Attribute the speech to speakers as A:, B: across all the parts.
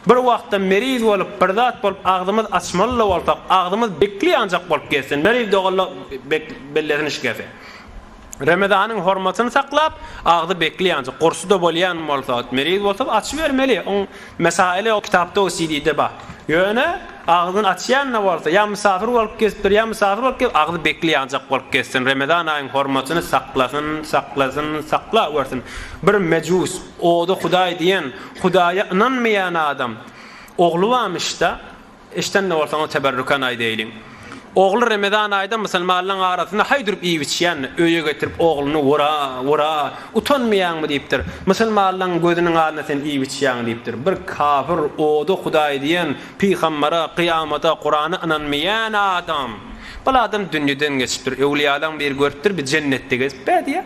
A: Bir wagtdan meriz bolup, bir zat bolup agzymyz açmaly-da bolsak, agzymyz bekli ýanjak bolup gezsin, meriz dogalla bek bellesini şikese. Remezanyň hormatyny saklap, agzy bekli ýanjak, gursuda bolýan bolsa, meriz bolsa açybermeli. Oň mesaili o kitapda, o CD-de bar. Ýöne agzyny açýan-da bolsa, ýa mysafir bolup gezipdir, ýa mysafir bolup gez, agzy bekli ýanjak bolup gezsin, Remezan aýyň hormatyny saklasyn, saklasyn, sakla wersin. Bir mejus, ody hudaý diýen, Hudaýa ynanmaýan adam ogly barmyşda, eşidende bolsaňyz teberrükan aýdaýlyň. Ogly Remezan aýda musulmanlaň arasynda haý durup iýip-içýän, öýe getirip ogluny wura, wura, utanmaýaňmy diýipdir. Musulmanlaň gözüniň alnynda sen iýip-içýäň diýipdir. Bir kafir, oda hudaý diýen, pygambara, kyýamata, Kurana ynanmaýan adam. Bul adam dünýeden geçipdir. Öwliýalaň biri görüpdir, biz jennetde gezip bädýä.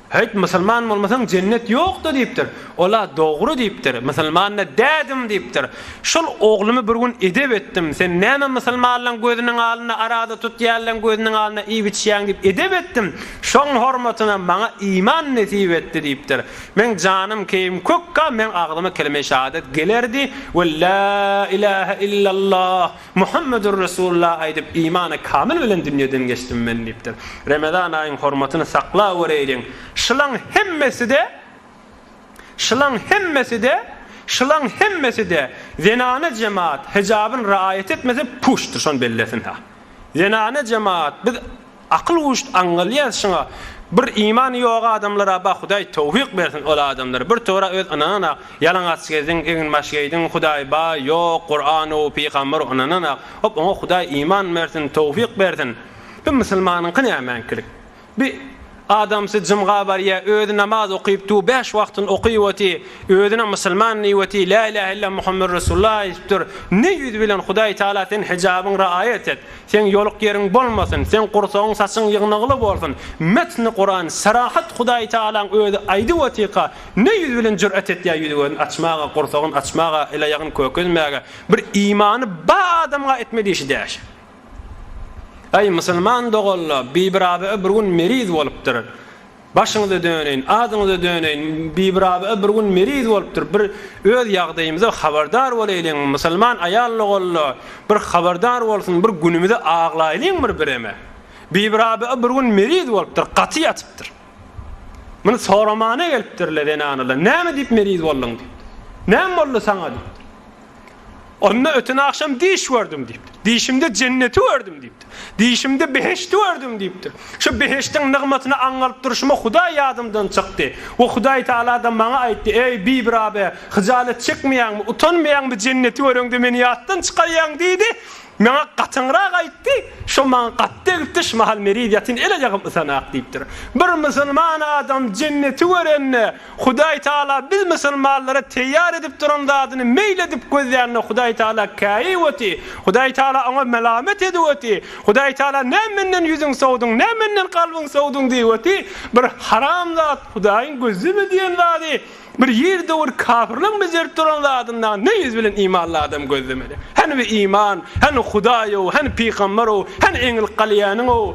A: Häýt, musulman bolmasaň jennet ýokda diýipdir. Ol-a dogry diýipdir. Musulman-da dädim diýipdir. Şol oglumy bir gün edep etdim. Sen näme musulmanlaň gözüniň alynda arada tutýanlaň gözüniň alynda iýip-içýäň diýip edep etdim. Şoň hormatyna maňa iman nesip etdi diýipdir. Meň janym keýim kökka meň agzyma kelime-i şahadat gelerdi we la ilahe illallah Muhammedur Resulullah aýdyp, imany kamyl bilen dünýeden geçdim men diýipdir. Remezan aýyň hormatyny saklaweriýin. Şylaň hemmesi-de, şylaň hemmesi-de, şylaň hemmesi-de zenana jemaat hijabyn raýat etmese puşdyr, şony bellesin-hä. Zenana jemaat biz Akyl uşt aňňal ýaz şuňa. Bir imany ýok adamlara ba hudaý towfyk bersin ol adamlary bir tora öz ynananak ýalaňaç gezdiň eginbaş geýdiň hudaý ba ýok guranow pygamber ynananak hop oňa hudaý iman bersin towfyk bersin bi musulmanyňky nämeňkilik bi adamsy jymga barýa özi namaz okyp tu bäş wagtyn okyp oty özüne musulman diýip oty la ilaha illa muhammer resulullah aýdypdyr ne ýüz bilen hudaý taala sen hijabyň raýat et Seň ýoluk ýeriň bolmasyn, seň gursagyň saçyň ýygnagly bolsun. Metni Kuran, Serahat Hudaýy Tagalaň özi aýdyp otyka, ne ýüz bilen jür'et etýä ýüzi gözün açmaga, gursagyn açmaga, el aýagyn kökezmäge, bir imany ba adamga etme diýşi däşi. Aý musulman doganla, Bibi Rabi'a bir gün meriz bolupdyr. Başyňyza döneýin, adyňyza döneýin, Bibi Rabyga bir gün meriz bolupdyr, bir öz ýagdaýymyza habardar bolaýlyň, musulman aýal-ogalla bir habardar bolsun, bir günümizi aglaýlyň bir bireme. Bibi Rabyga bir gün meriz bolupdyr, gaty ýatypdyr. Muny soramana gelipdirler zenanlar, näme diýip meriz bolduň diýipdir. Näme boldy saňa diýipdir. Onda öten agşam düýş gördüm diýipdir. Düýşümde jenneti gördüm diýipdir. Düýşümde behişdi gördüm diýipdir. Şu behişdiň nygmatyny aňňalyp durşuma Hudaý ýadymdan çykdy. We Hudaý Tagala-da maňa aýtdy, Eý, Bibirabe, hyjalat çekmeýäňmi, utanmaýaňmy jenneti göreňde meni ýatdan çykarýaň diýdi. Maňa gatyňrak aýtdy. Şo maňa gaty degipdir, şu mahal meniz ýatyn el-aýagym ysanak diýipdir. Bir musulman adam jenneti görende, Hudaý Taala biz musulmanlara teýýar edip duran zadyny meýil edip gözlände Hudaý Taala käýip öti, Hudaý Taala oňa melamet edip öti, Hudaý Taala nä menden ýüzüň sowduň, nä menden kalbyň sowduň diýip öti, bir haram zat, Hudaýyň gözleme diýen zady, bir ýer döwür kafirleň bejerip duran zadynda ne ýüz bilen imanly adam gözlemeli? Hany bir iman, hany Hudaýow, hany pygamberow, hany eňil galýanyňow?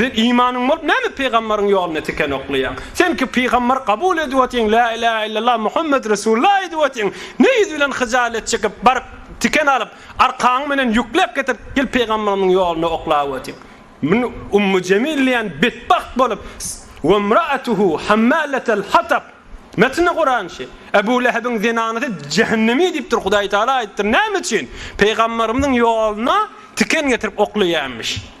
A: Sen imanyň bolup näme pygamberiň ýoluna tiken oklaýaň? Sen ki pygamberi kabul edip otyň la ilaha illallah Muhammet resulullah aýdyp otyň ne ýüz bilen hyjalet çekip baryp tiken alyp arkaň bilen ýükläp getirip gel pygamberimiň ýoluna oklap otyň Min ummu jemil diýen betbagt bolup wemraatuhu hammalatal hatab Metni Kuran şi. Ebu Lehebiň zenanysy jehennemi diýipdir Hudaý Taala aýdypdyr näme üçin pygamberimiň ýoluna tiken getirip oklaýanmyş.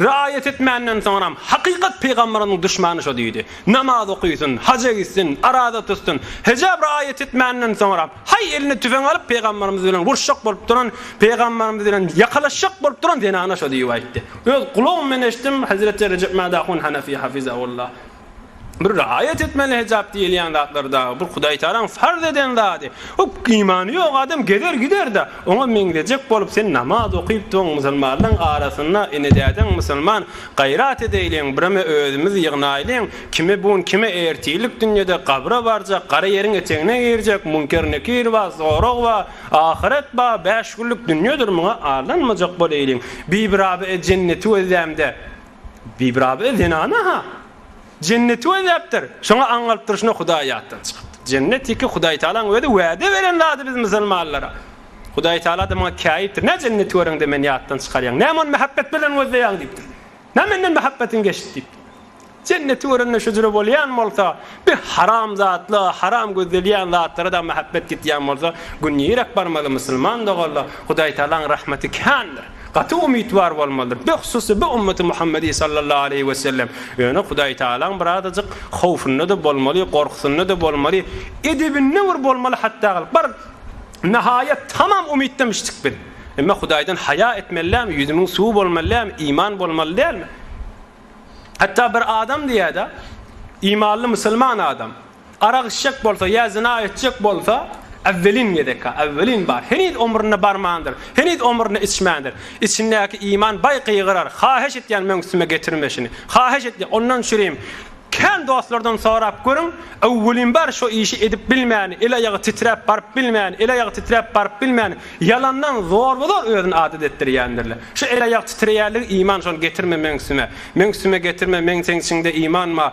A: Riaýet etmänden soňram, hakykat pygamberiniň duşmany şo diýdi. Namaz okysyn, haja gitsin, araza tutsyn, hejäb riaýet etmänden soňram, haý eline tüfeň alyp pygamberimiz bilen uruşjak bolup duran, pygamberimiz bilen ýakalaşjak bolup duran zenana şo diýip aýtdy. Öz gulagym bilen eşitdim, Hezreti Rejep Mädahun Hanefi Hafizahullah. Bir raýat etmeli hejap diýilýän zatlar dagy bir Hudaýtalaň farz eden zady. O imany ýok adam gezer gider-de, oňa meňzejek bolup sen namaz okypdygyň musulmanlaň arasynda ene-dädeň musulman gaýrat edeýliň bireme özümiz ýygnaýlyň kime bun kime ertirlik dünýede gabra barjak gara ýeriň etegine girjek munker nekir bar zorag bar ahyret bar bäş günlik dünýedir muňa aldanmajak boleýliň bibirabe e jenneti gözlämde Bibirabe zenana-ha Jenneti gözläpdir. Şoňa aň alyp durşuna Hudaý ýatdan çykypdyr. Jennet ýeke Hudaýtagalaň özi wäde beren zady biz musulmanlara. Hudaýtagala-da muňa käýipdir. Nä Jenneti göreňde meni ýatdan çykarýaň? Näme ony mähebbet bilen gözleýäň diýipdir. Nä menden mähebbetin geçdi diýipdir. Jenneti görende şüjre bolýan bolsa, bi haram zatla, haram gözlelýän zatlara-da mähebbet gitýän bolsa, gün nirek barmaly musulman doganlar? Hudaýtagalaň rahmeti kändir. Gaty umytwar bolmalydyr. Beh susy bi ummeti Muhammedi sallallahu aleýhi we sellem. Ýöne Hudaý Taalaň birazajyk howfunda-da bolmaly, gorkusynda-da bolmaly, edebinde bir bolmaly hatda gylyp. Bir nahaýat tamam umytdamyşdyk biz. Emma Hudaýdan haýa etmeli dälmi, ýüzümiň suwy bolmaly dälmi, iman bolmaly dälmi? Hatda bir adam diýýär-de, imanly musulman adam, Arak içjek bolsa ýa zyna etjek bolsa, äwwelin gezek-ä, äwwelin bar. Heniz omruna barmandyr, heniz omruna içmändir. Içindäki iman baý gygyrar, Haýyş etýän meň üstüme getirme şuny! Haýyş etýän! Ondan çürim! Kän dostlardan sorap görüň, äwwelin bar şo işi edip bilmäni, el-aýagy titräp baryp bilmäni, el-aýagy titräp baryp bilmäni, ýalandan zorba-zor özüni adat etdirýändirler. Şu el-aýak titreýänligi iman şony getirme meň üstüme! Meň üstüme getirme, meň seň içiňde iman bar.